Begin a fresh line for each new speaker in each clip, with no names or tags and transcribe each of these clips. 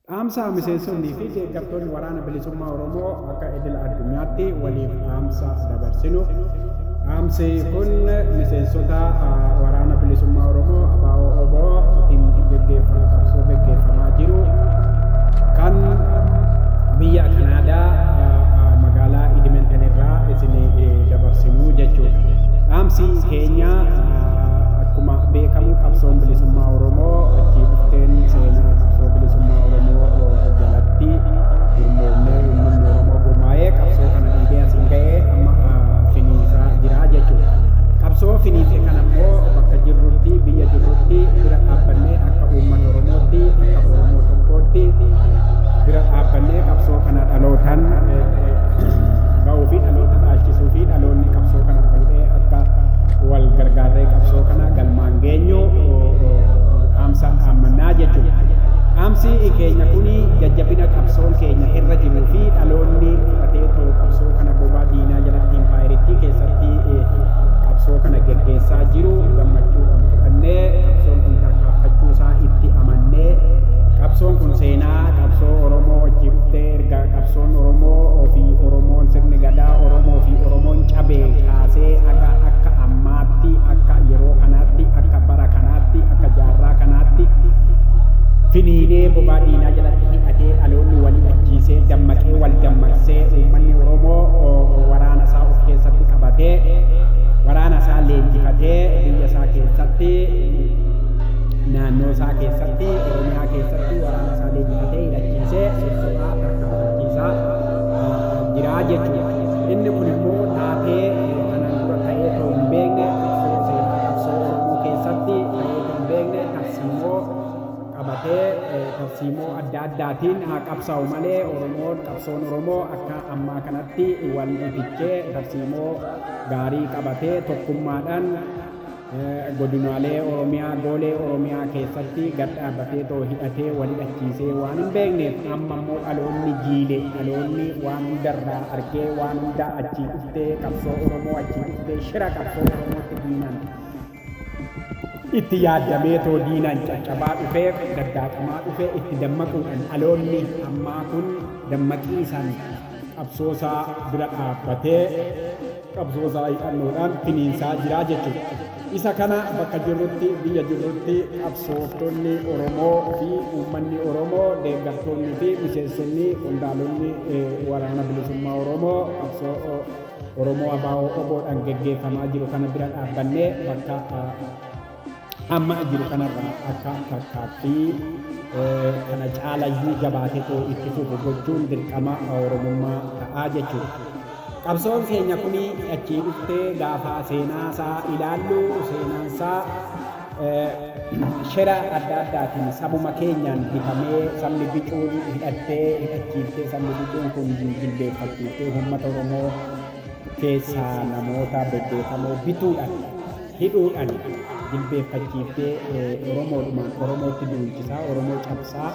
Dhaamsa miseensonnii fi deeggartoonni Waraana Bilisummaa Oromoo akka idila addunyaatti waliif dhaamsa dabarsinu. Dhaamsi kun miseensota Waraana Bilisummaa Oromoo ABO OBO tiin geggeeffamaa qabsoo geggeeffamaa jiru kan biyya Kanaadaa magaalaa Edmonton irraa isin dabarsinu jechuudha. Dhaamsi keenya Akkuma beekamu qabsoon bilisummaa Oromoo itti dhufteen seenaa qabsoo bilisummaa Oromoo jalatti gurmoomnee uummanni Oromoo gurmaa'ee qabsoo kana dhiibee asiin ga'ee amma finiinsaa jira jechuudha. Qabsoo finiinse kana immoo bakka jirrutti biyya jirrutti bira dhaabbannee akka uummata Oromootti akka Oromoo tokkootti bira dhaabbannee qabsoo kana dhalootaan ga'uu fi dhaloota dhaalchisuu fi dhaloonni qabsoo kana fuudhee akka wal gargaarree qabsoo kana galmaan geenyu dhaamsa dhaammannaa jechuudha. Dhaamsi keenya kun jajjabina qabsoon keenya irra jiruu fi dhaloonni fudhatee too qabsoo kana bobaa diinaa jalatti impaayerittii keessatti qabsoo kana geggeessaa jiru gammachuudhaan fudhannee qabsoon kun tarkaanfachuu isaa itti amannee qabsoon kun seenaa qabsoo Oromoo wajjin dhuftee erga Qabsoon Oromoo fi Oromoon sirni gadaa Oromoo fi Oromoon cabee kaasee haga akka ammaatti akka yeroo kanaatti akka bara kanaatti akka jaarraa kanaatti finiinee bobaa diinaa jalatti hidhatee dhaloonni wal ajjiisee dammaqee wal dammaqsee uummanni Oromoo waraana isaa of keessatti qabatee waraana isaa leenjifatee biyya isaa keessatti naannoo isaa keessatti Oromiyaa keessatti waraana isaa leenjifatee hidhachiisee sobaa bakka amansiisaa jira jechuudha. Inni kun immoo taatee kanaan dura ta'ee ta'uu hin beekne seenaa qabsoo Oromoo keessatti ta'ee ta'uu hin beekne tarsiimoo qabatee tarsiimoo adda addaatiin haa qabsaa'u malee Oromoon qabsoon Oromoo akka ammaa kanatti wal fichee tarsiimoo gaarii qabatee tokkummaadhaan Godinaalee Oromiyaa, Goolee Oromiyaa keessatti gad dhaabbatee too hidhatee wal hidhachiisee waan hin beekneef amma immoo dhaloonni jiile dhaloonni waan hundarraa argee waan hundaa achii dhuftee qabsoo Oromoo achii dhuftee shira qabsoo Oromootti diinaan itti yaaddamee too diinaan caccabaa dhufee daddaaqamaa dhufee itti dammaquudhaan dhaloonni ammaa kun dammaqiisaan qabsoosaa bira dhaabbatee qabsoosaa hidhannoodhaan finiinsaa jiraa jechuudha. Isa kana bakka jirrutti biyya jirrutti qabsooftonni Oromoo fi uummanni Oromoo deeggartoonni fi miseensonni qondaalonni waraana bilisummaa Oromoo qabsoo Oromoo Abaa'oo Oboodhaan geggeeffamaa jiru kana bira dhaabbannee bakka amma jiru kanarraa akka fakkaatti kana caalayyuu jabaatetu itti fufu gochuun dirqama Oromummaa ta'aa jechuudha. Qabsoon keenya kun achii dhuftee gaafa seenaasaa ilaallu seenaansaa shira adda addaatiin sabuma keenyaan bitamee sabni bicuun hidhattee hidhachiiftee sabni bicuun kun jilbeeffachiiftee uummata Oromoo keessaa namoota bebbeekamoo bituudhaan hidhuudhan jilbeeffachiiftee Oromoodhumaan Oromootti duulchisaa, Oromoo cabsaa,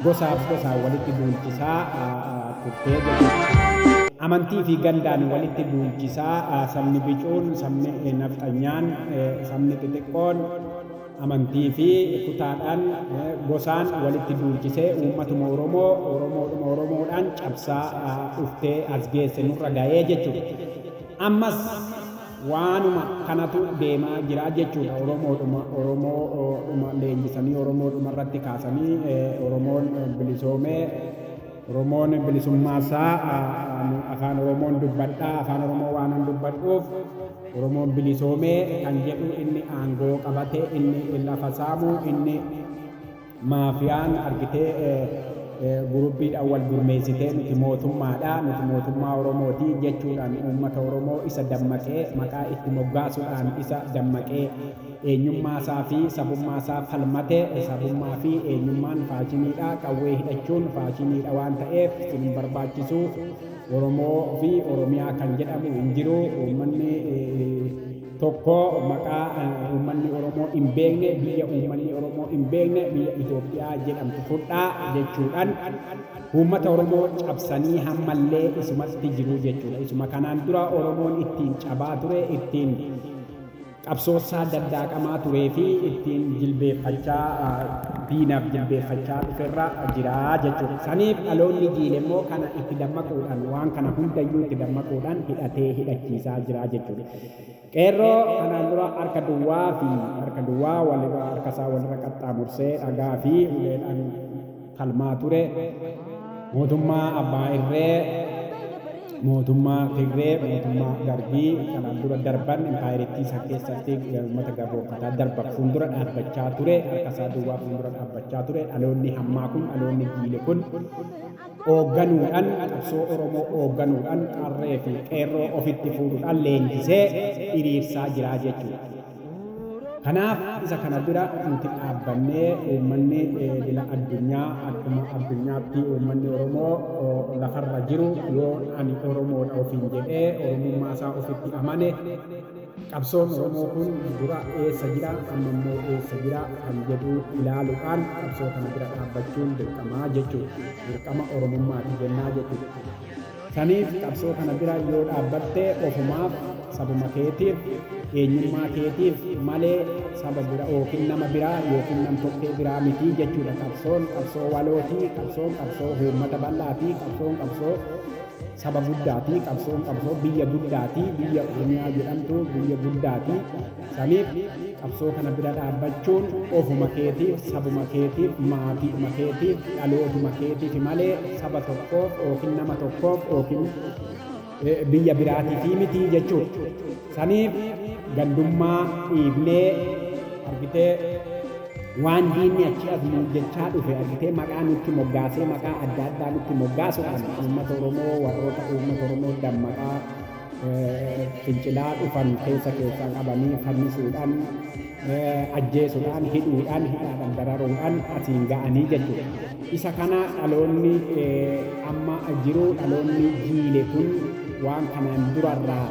gosaaf gosaan walitti duulchisaa turtee jedhu. Amantii fi gandaan walitti duulchisaa sabni bicuun, sabni nafxanyaan, sabni xixiqqoon amantii fi kutaadhaan, gosaan walitti duulchisee uummatuma Oromoo Oromoodhuma Oromoodhaan cabsaa dhuftee as geesse nurra ga'ee jechuudha. Ammas Waanuma kanatu deemaa jira jechuudha Oromoodhuma Oromoodhuma leenjisanii Oromoodhuma irratti kaasanii Oromoon bilisoomee Oromoon bilisummaa isaa ani afaan Oromoon dubbadha afaan Oromoo waanan dubbadhuuf Oromoon bilisoomee kan jedhu inni aangoo qabate inni lafa saamu inni Maafiyaan argitee guruppiidhaan wal gurmeessitee nuti mootummaadha, nuti mootummaa Oromooti jechuudhaan uummata Oromoo isa dammaqee maqaa itti moggaasuudhaan isa dammaqee eenyummaasaa fi sabummaasaa falmate sabummaa fi eenyummaan faashiniidha qawwee hidhachuun faashiniidha waan ta'eef isin hin barbaachisu Oromoo fi Oromiyaa kan jedhamu hin jiru uummanni tokko maqaa uummanni Oromoo hin beekne biyya uummanni Oromoo hin beekne biyya Itoophiyaa jedhamtu fudhaa jechuudhaan uummata Oromoo cabsanii hammallee isumatti jiru jechuudha. Isuma kanaan dura Oromoon ittiin cabaa ture ittiin qabsoosaa daddaaqamaa turee fi ittiin jilbeeffachaa diinaaf jilbeeffachaa dhuferra jira jechuudha. Saniif dhaloonni jiile immoo kana itti dammaquudhaan waan kana hundayyuu itti dammaquudhaan hidhatee hidhachiisaa jira jechuudha. Qeerroo kanaan dura harka duwwaa fi harka duwwaa walirra harkasaa walirra qaxxaamursee dhagaa fi uleedhaan falmaa ture mootummaa abbaa irree mootummaa Tigree mootummaa Dargii kanaan dura darban impaayerittii san keessatti uummata gabroonfataa darban fuuldura dhaabbachaa ture harkasaa duwwaa fuuldura dhaabbachaa ture dhaloonni hammaa kun dhaloonni jiile kun oogganuudhan qabsoo Oromoo oogganuudhan qarree fi qeerroo ofitti fuudhudhan leenjisee iriirsaa jiraa jechuudha. Kanaaf isa kana bira nuti dhaabbannee uummanni idila addunyaa akkuma addunyaatti uummanni Oromoo lafarra jiru yoo ani Oromoodha ofiin jedhee Oromummaa isaa ofitti amane Qabsoon Oromoo kun dura eessa jira, amma immoo eessa jira kan jedhu ilaaluudhaan qabsoo kana bira dhaabbachuun dirqama jechuudha. Dirqama Oromummaati jennaa jechuudha. Saniif qabsoo kana bira yoo dhaabbatte ofumaaf, sabuma keetiif, eenyummaa keetiif malee saba bira yookiin nama biraa yookiin nam-tokkee biraa miti jechuudha. Qabsoon qabsoo walooti, qabsoon qabsoo uummata bal'aati, qabsoon qabsoo saba guddaati qabsoon qabsoo biyya guddaati biyya oromiyaa jedhamtu biyya guddaati saniif qabsoo kana bira dhaabbachuun ofuma keetiif sabuma keetiif maatiidhuma keetiif dhalootuma keetiif malee saba tokkoof yookiin nama tokkoof yookiin biyya biraatiif mitii jechuudha. Saniif gandummaa dhiifnee argitee waan diinni achi as nuun jechaa dhufe argitee maqaa nutti moggaasee maqaa adda addaa nutti moggaasuudhaan uummata Oromoo warroota uummata Oromoo dammaqaa fincilaa dhufan keessa keessaa qabanii fannisuudhaan ajjeesuudhaan hidhuudhaan hidhaadhaan dararuudhaan asiin ga'anii jechuudha. Isa kana dhaloonni amma jiru dhaloonni jiile kun waan kanaan durarraa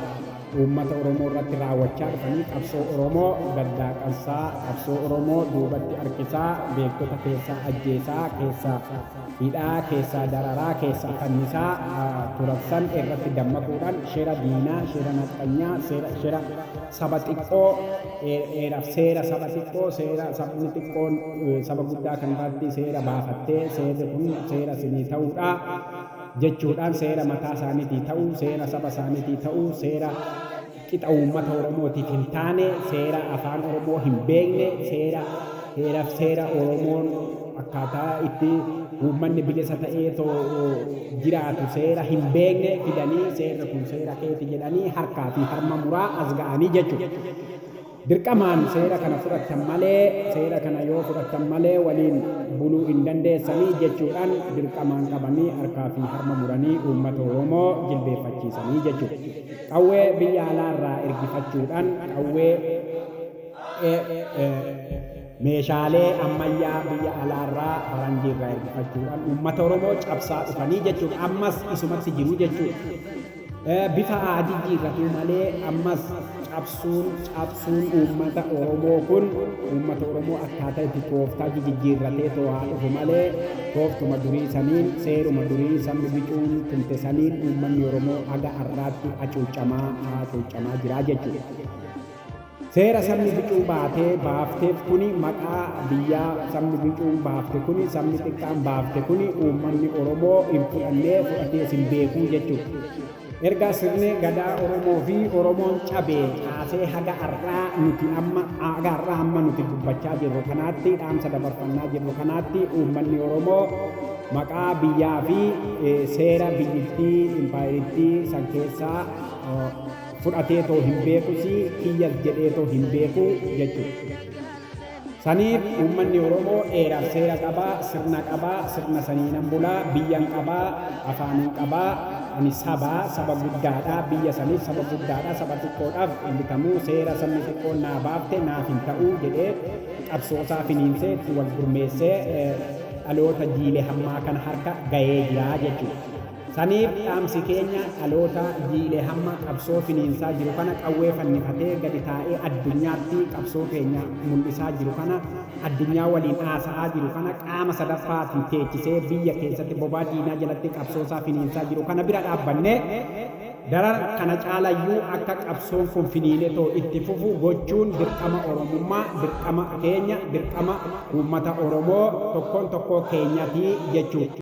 uummata Oromoo irratti raawwachaa dhufanii qabsoo Oromoo daddaaqansaa, qabsoo Oromoo duubatti harkisaa, beektota keessaa ajjeesaa, keessaa hidhaa, keessaa dararaa, keessaa fannisaa turansan irratti dammaquudhaan shira diinaa, shira nafxanyaa, shira saba xiqqoo, seera saba xiqqoo, seera sabni xiqqoon saba guddaa kan irratti seera baafattee seerri kun seera isinii ta'uudha. jechuudhaan seera mataa isaaniitii ta'uu, seera saba isaaniitii ta'uu, seera qixa uummata Oromootiif hin taane, seera afaan Oromoo hin beekne, seera heeraf seera Oromoon akkaataa itti uummanni bilisa ta'ee too jiraatu seera hin beekne fidanii seerri kun seera keeti jedhanii harkaa fi harma muraa as ga'anii jechuudha. Dirqamaan seera kana fudhattan malee, seera kana yoo fudhattan malee waliin buluu hin dandeessanii jechuudhaan dirqamaan qabanii harkaa fi harma muranii uummata Oromoo jilbeeffachiisanii jechuudha. Qawwee biyya alaa irraa ergifachuudhaan qawwee, meeshaalee ammayyaa biyya alaa irraa faranjii irraa ergifachuudhaan uummata Oromoo cabsaa dhufanii jechuudha. Ammas isumatti jiru jechuudha. Bifa haa jijjiirratuu malee ammas cabsuun cabsuun uummata Oromoo kun uummata Oromoo akkaataa itti tooftaa jijijjiirratee too haa dhufu malee tooftuma durii saniin seeruma durii sabni bicuun tumte saniin uummanni Oromoo haga har'aatti hacuucamaa hacuucamaa jiraa jechuudha. Seera sabni bicuu baatee, baafteef kuni maqaa biyyaa sabni bicuun baafte kuni sabni xiqqaan baafte kuni uummanni Oromoo hin fudhannee fudhatees hin beekuu jechuudha. Erga sirni gadaa Oromoo fi Oromoon cabee kaasee haga har'aa nuti amma haga har'aa amma nuti dubbachaa jirru kanaatti dhaamsa dabarfannaa jirru kanaatti uummanni Oromoo maqaa biyyaa fi seera biyyittii impaayerittii san keessaa fudhateetoo hin beekusii kiyyas jedheetoo hin beeku jechuudha. Saniif uummanni Oromoo eeraaf seera qabaa, sirna qabaa, sirna saniinan bulaa, biyyan qabaa, afaanin qabaa, ani sabaa, saba guddaadha, biyya saniif saba guddaadha, saba xiqqoodhaaf hin bitamu, seera sabni xiqqoon naa baafte naaf hin ta'u jedhee qabsoosaa finiinsee itti wal gurmeessee dhaloota jiile hammaa kana harka gahee jira jechuudha. Saniif dhaamsi keenya dhalootaa jiilee hamma qabsoo finiinsaa jiru kana qawwee fannifatee gadi taa'ee addunyaatti qabsoo keenya mul'isaa jiru kana addunyaa waliin haasa'aa jiru kana qaama sadaffaatiin teechisee biyya keessatti bobaa diinaa jalatti qabsoosaa finiinsaa jiru kana bira dhaabbannee daran kana caalayyuu akka qabsoon kun finiinetoo itti fufu gochuun dirqama Oromummaa dirqama keenya dirqama uummata Oromoo tokkoon tokkoo keenyati jechuu